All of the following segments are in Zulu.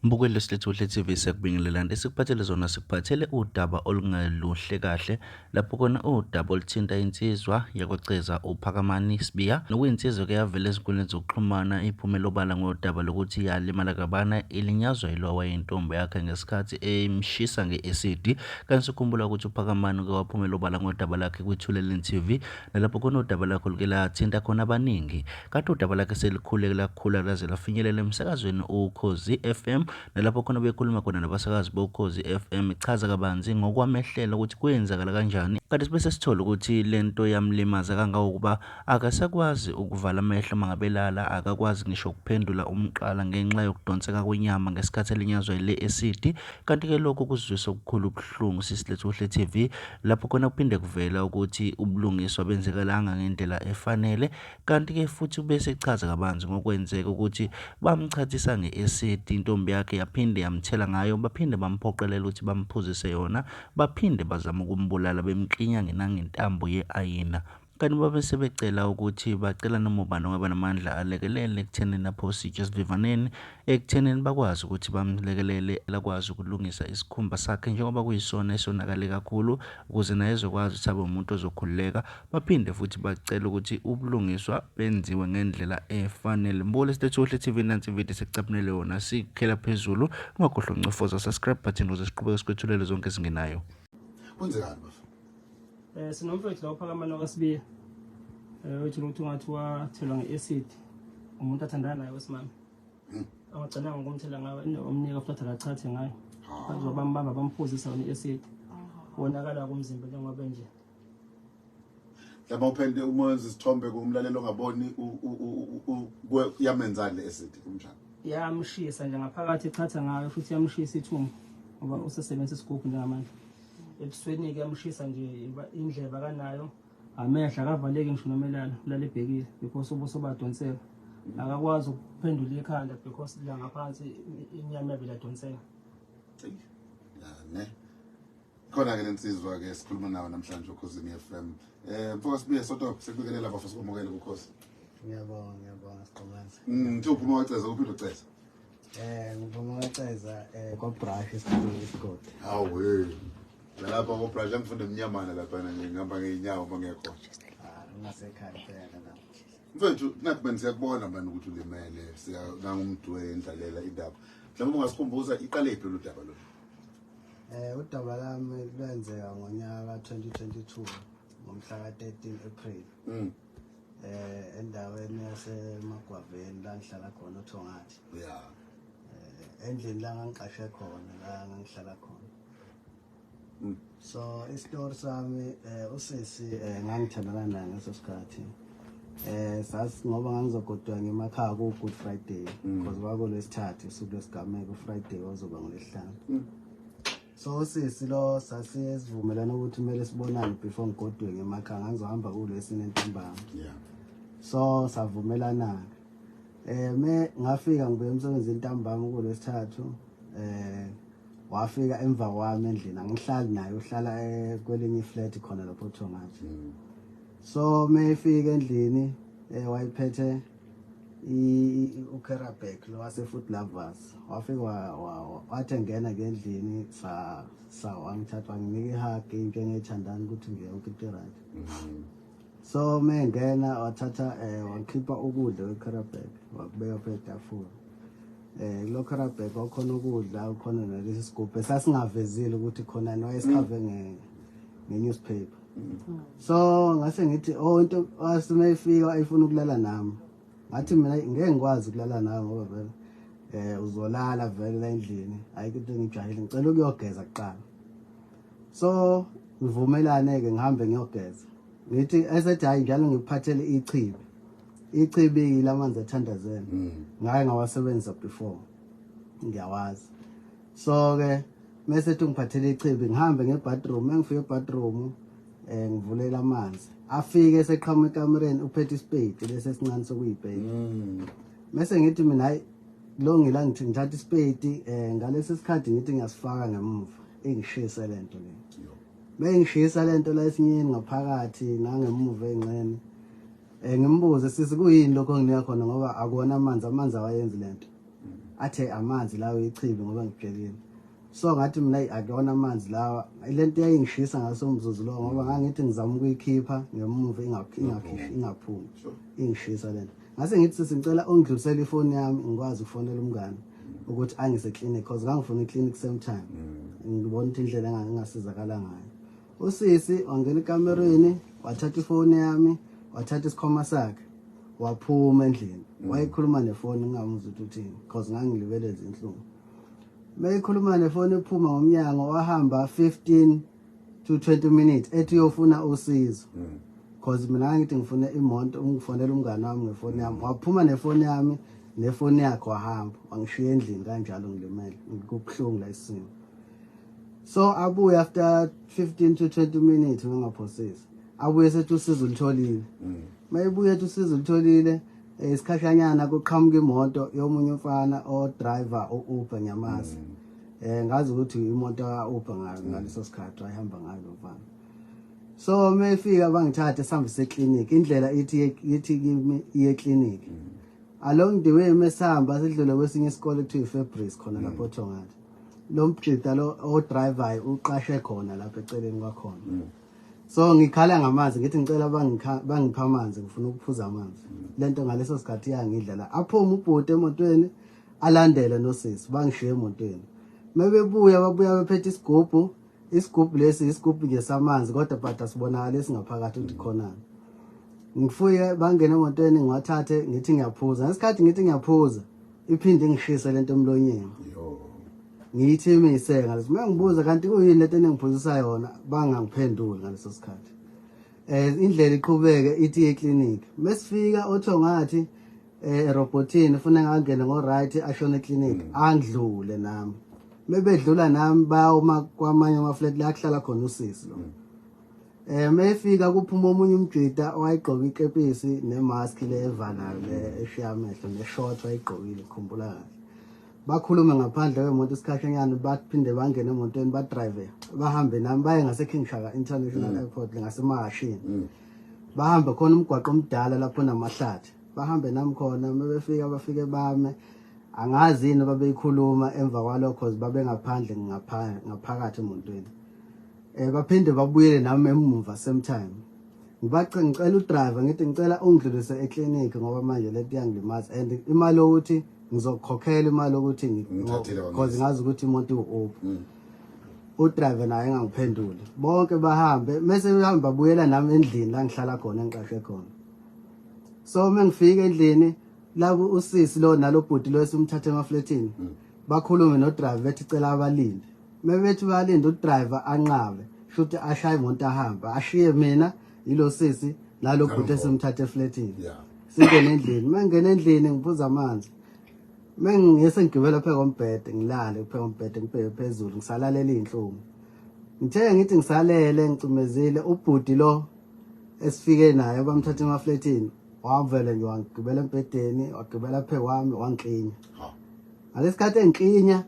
Mbukeli lesilethu uhle TV siyakubingelelani esikuphathele zona sikuphathele udaba olungeluhle kahle lapho kona udaba oluthinta insizwa yakwaceza uphakamani sibiya nokuyinsizwa ke yavela ezinkundleni zokuxhumana iphumela obala ngodaba lokuthi yalimala kabana ilinyazwa yilo wayentombo yakhe ngesikhathi emshisa nge-acid kanti sikhumbula ukuthi uphakamani uke waphumela obala ngodaba lakhe kwithuleleni TV nalapho kona udaba lakho luke lathinta khona abaningi Kade udaba lakhe selikhuleke lakhula laze lafinyelela emsakazweni uKhozi FM nalapho khona bekhuluma khona nabasakazi boKhozi FM ichaza kabanzi ngokwamehlela ukuthi kwenzakala kanjani kanti sibe sesithola ukuthi le nto yamlimaza kangangokuba akasakwazi ukuvala amehlo mangabelala akakwazi ngisho ukuphendula umqala ngenxa yokudonseka kwenyama ngesikhathi elinyazwa yile esidi kanti-ke lokhu kuzwisa okukhulu ubuhlungu sisilethu kuhle TV lapho khona kuphinde kuvela ukuthi ubulungiswa benzekalanga ngendlela efanele Kanti-ke futhi ubese echaza kabanzi ngokwenzeka ukuthi bamchathisa nge-acid intombi yakhe yaphinde yamthela ngayo baphinde bamphoqelela ukuthi bamphuzise yona baphinde bazama ukumbulala bemklinya ngenangentambo ye-ayina kanti babe sebecela ukuthi bacela noma ubani ongaba namandla alekelele ekuthenini aphose itshe esivivaneni ekuthenini bakwazi ukuthi bamlekelele lakwazi ukulungisa isikhumba sakhe njengoba kuyisona esonakale kakhulu ukuze naye ezokwazi ukuthi abe umuntu ozokhululeka Baphinde futhi bacela ukuthi ubulungiswa benziwe ngendlela efanele. Mbukele State Sohle TV nansi ividiyo sekucaphunele yona sikhela phezulu. Ungakhohlwa uncofoza subscribe button ukuze siqhubeke sikwethulele zonke ezingenayo. Kwenzekani bafo? Eh sinomfethu la uphakama nokaSibiya. Eh uthi ukuthi ungathi wathelwa ngeacid umuntu athandana naye wesimama. Hmm. Awagcinanga ukumthela ngayo indawo omnika futhi akachathe ngayo. Ah. Bazobambamba bamphuzisa wona iacid. Wonakala kumzimba njengoba nje. yaba uphende uma wenza isithombe kumlalelo ongaboni yamenzani le acid umjana yamshisa nje ngaphakathi echatha ngayo futhi yamshisa ithumbu ngoba usesebenzisa isigubhu njengamanje ebusweni-ke yamshisa nje indleba kanayo amehla akavaleki ngisho noma elala ulala ebhekile because ubuso badonseka akakwazi ukuphendula ikhanda because la ngaphansi inyama yavele adonseka ne khona ke lensizwa ke sikhuluma nawo namhlanje ukhosini FM eh mfoka sibuye soto sekubikelela bafo sikwamukele ukhosi ngiyabonga ngiyabonga siqomanzi mm thi uphuma waceza uphinde uceza eh ngiphuma waceza eh kwa brush esikhulu isigodi awu we lapha kwa brush angifunde emnyamana lapha nje ngihamba ngeenyawo uma ngekho ah ngasekhaya phela lapha mfethu nathi manje siyakubona manje ukuthi ulimele siya nangumdwe endlalela indaba mhlawumbe ungasikhumbuza iqale iphi lolu daba lolu Eh udaba lami lwenzeka ngonyaka ka 2022 ngomhla ka 13 April. Mm. Eh endaweni yase Magwaveni la ngihlala khona uThongathi. Yeah. Eh endlini la ngangiqashe khona la ngihlala khona. Mm. So isitori sami eh usisi eh ngangithandana naye ngeso sikhathi. eh sas ngoba ngangizogodwa ngemakhaya ku Good Friday mm. because kwako lesithathu usuku lesigameko Friday wazoba ngolesihlanu mm. so sisi lo sasivumelana ukuthi kumele sibonane before ngigodwe ngemakhaya ngangizohamba kulesine ntambama yeah so savumelana eh me ngafika ngibuye emsebenzini ntambama kulesithathu eh wafika emva kwami endlini angihlali naye uhlala eh, kwelinye iflat khona lapho Thongathi mm. so meyifika endlini eh wayiphethe ukerabek lo wasefood lovers wafika wathi engena ngendlini sa sa wangithatha wanginika ihug into engiyithandana ukuthi ngiye ukiti right mm-hmm. so mengena wathatha eh wakhipha ukudla kwekerabek wakubeka phezu tafula eh lo kerabek wakhona ukudla ukhona nalesi sigubhe sasingavezile ukuthi khona noyesikhave nge newspaper so ngase ngithi oh into asina ifika ayifuna ukulala nami ngathi mina ngeke ngikwazi ukulala nawe ngoba vele eh uzolala vele la endlini ayikho into engijahile ngicela ukuyogeza kuqala so ngivumelane ke ngihambe ngiyogeza ngithi esethi hayi njalo ngikuphathele ichibi ichibi lamanzi athandazela mm. ngaye ngawasebenzisa before ngiyawazi so ke mese ethi ungiphathele ichibi ngihambe ngebathroom engifike ebathroom um eh, ngivulela amanzi afike eseqhama ekamereni uphethe isipeyidi lesi esincane sokuyibheki mm. mese ngithi mina hayi lo ngila ngithi ngithatha isipeyidi um eh, ngalesi sikhathi ngithi ngiyasifaka ngemuva ingishise le nto le bengishisa le nto la esinyeni ngaphakathi nangemuva ey'nxeni um ngimbuze sisi kuyini lokho nginika khona ngoba akuwona amanzi amanzi awayenzi le nto athe amanzi lawo ichibi ngoba ngibhekile so ngathi mina akuyona amanzi lawa lento yayingishisa ngaso umzuzu lowo ngoba ngangithi ngizama ukuyikhipha ngemuva ingakhishi ingaphumi ingishisa lento ngase ngithi sisi ngicela ungidlulisele ifoni yami ngikwazi ukufonela umngane ukuthi angise clinic cause ngangifuna iclinic same time mm. ngibona ukuthi indlela engasizakala ngayo usisi wangena ekamereni wathatha ifoni yami wathatha isikhwama sakhe waphuma endlini mm. wayekhuluma nefoni ngingamuzi ukuthi uthini because ngangilibeleza inhlungu meyikhuluma nefoni ephuma ngomnyango wahamba 15 to 20 minutes ethi uyofuna usizo mm. cause mina ngangithi ngifuna imonto ungifonela umngane wami ngefoni yami mm. waphuma nefoni yami nefoni yakhe wahamba wangishiya endlini kanjalo ngilimele ngikubuhlungu la isimo so abuye after 15 to 20 minutes ungaphosisi abuye sethi usizo ulitholile mm. mayebuye ethi usizo ulitholile eh, isikhahlanyana kuqhamuka imoto yomunye umfana odriver u-uber nyamazi mm. eh ngazi ukuthi imoto ka-uber mm. ngaleso sikhathi wayihamba ngayo lo mfana so mefika bangithathe sihambe seklinikhi indlela ithi ithi kimi iye eklinikhi along the way mesihamba sidlule kwesinye isikole kuthiwa i-fabris khona lapho othongathi lo mjita lo odrivayo uqashe khona lapha eceleni kwakhona mm. so ngikhala ngamanzi ngithi ngicela bangipha amanzi ngifuna ukuphuza amanzi mm. lento ngaleso sikhathi yangidla la aphume ubhuti emotweni alandele nosisi bangishiye emotweni mebebuya babuya bephethe isigubhu Isigubhu lesi isigubhu nje samanzi kodwa bhada sibonakala esingaphakathi ukuthi khonani. Ngifuye bangene emotweni ngiwathathe ngithi ngiyaphuza. Ngesikhathi ngithi ngiyaphuza iphinde ingishise lento emlonyeni. Ngithi imise ngaleso uma ngibuza kanti kuyini lento enengiphuzisa yona bangangiphenduli ngaleso sikhathi. Eh indlela iqhubeke ithi eclinic. Mesifika otho ngathi eh erobotini funa ngangene ngo right ashone clinic mm. andlule nami mebedlula nami ba uma kwamanye ama flat la kuhlala khona usisi lo mm. eh mefika kuphuma omunye umjita owayigqoka ikepisi nemask le evalayo le eshiya amehlo neshort wayigqokile khumbula kahle bakhulume ngaphandle kwemoto isikhashanyana baphinde bangene emotweni badrive bahambe nami baye ngaseking shaka international mm. airport ngasemahashini mm. bahambe khona umgwaqo omdala lapho namahlathi bahambe nami khona uma befika bafike bame angazi yini babeyikhuluma emva kwalokho cause babengaphandle ngaphakathi emotweni um eh, baphinde babuyele nami emuva same time ngibace ngicela udriver ngithi ngicela ungidlulise eklinikhi ngoba manje le nto iyangilimaza and imali yokuthi ngizokukhokhela imali yokuthi because ngazi ukuthi imoto iwu-up mm. udriver naye engangiphenduli bonke bahambe mese behambe babuyela nami endlini la ngihlala khona engiqashe khona so uma ngifika endlini la usisi lo nalobhuti lo esimthathe emafletini mm. bakhulume nodriver bethi cela abalinde mebethi balinde udriver anqabe shuthi ashaye imoto ahamba ashiye mina yilo sisi nalo bhuti esimthathe efletini singene endlini mengena endlini ngiphuza amanzi mengiyese ngigibela pheka kombhede ngilale pheka kombhede ngibheke phezulu ngisalalele izinhlungu ngithe ngithi ngisalele ngicumezile ubhuti lo esifike naye bamthatha emafletini wavele nje wangigibela embhedeni wagibela phe kwami wangiklinya ngalesikhathi engiklinya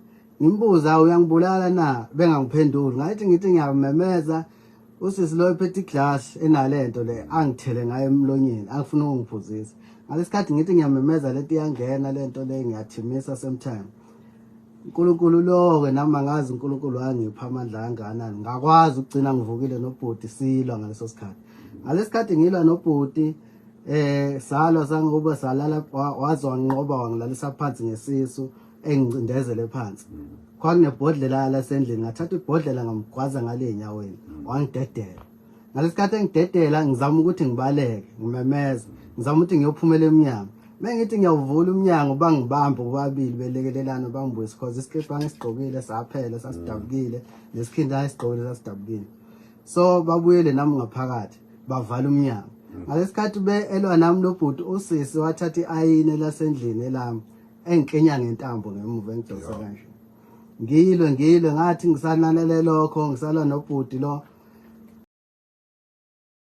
ngimbuza uyangibulala na bengangiphenduli ngathi ngithi ngiyamemeza usisi lo ephethe iglass enalento le angithele ngayo emlonyeni angifuna ukungiphuzisa ngalesikhathi ngithi ngiyamemeza lento iyangena lento le ngiyathimisa same time uNkulunkulu loke nami angazi uNkulunkulu wangipha amandla kangakanani ngakwazi ukugcina ngivukile nobhuti silwa ngaleso sikhathi ngalesikhathi ngilwa nobhuti eh salwa sangoba salala waze wanqoba wangilalisa phansi ngesisu engicindezele phansi kwakunebhodlela lasendlini ngathatha ibhodlela ngamgwaza ngale enyaweni wangidedela ngalesikhathi engidedela ngizama ukuthi ngibaleke ngimemeza ngizama ukuthi ngiyophumela emnyango mengithi ngiyawuvula umnyango bangibambe bobabili belekelelana bangibuyise cause isikipa ngisigqokile saphela sasidabukile nesikhindi ayisigqokile sasidabukile so babuyele nami ngaphakathi bavala umnyango mm. ngalesikhathi be elwa nami lobhuti usisi wathatha iayine lasendlini elami engikenya ngentambo ngemuva engidonsa kanje ngilwe ngilwe ngathi ngisananele lokho ngisala nobhuti lo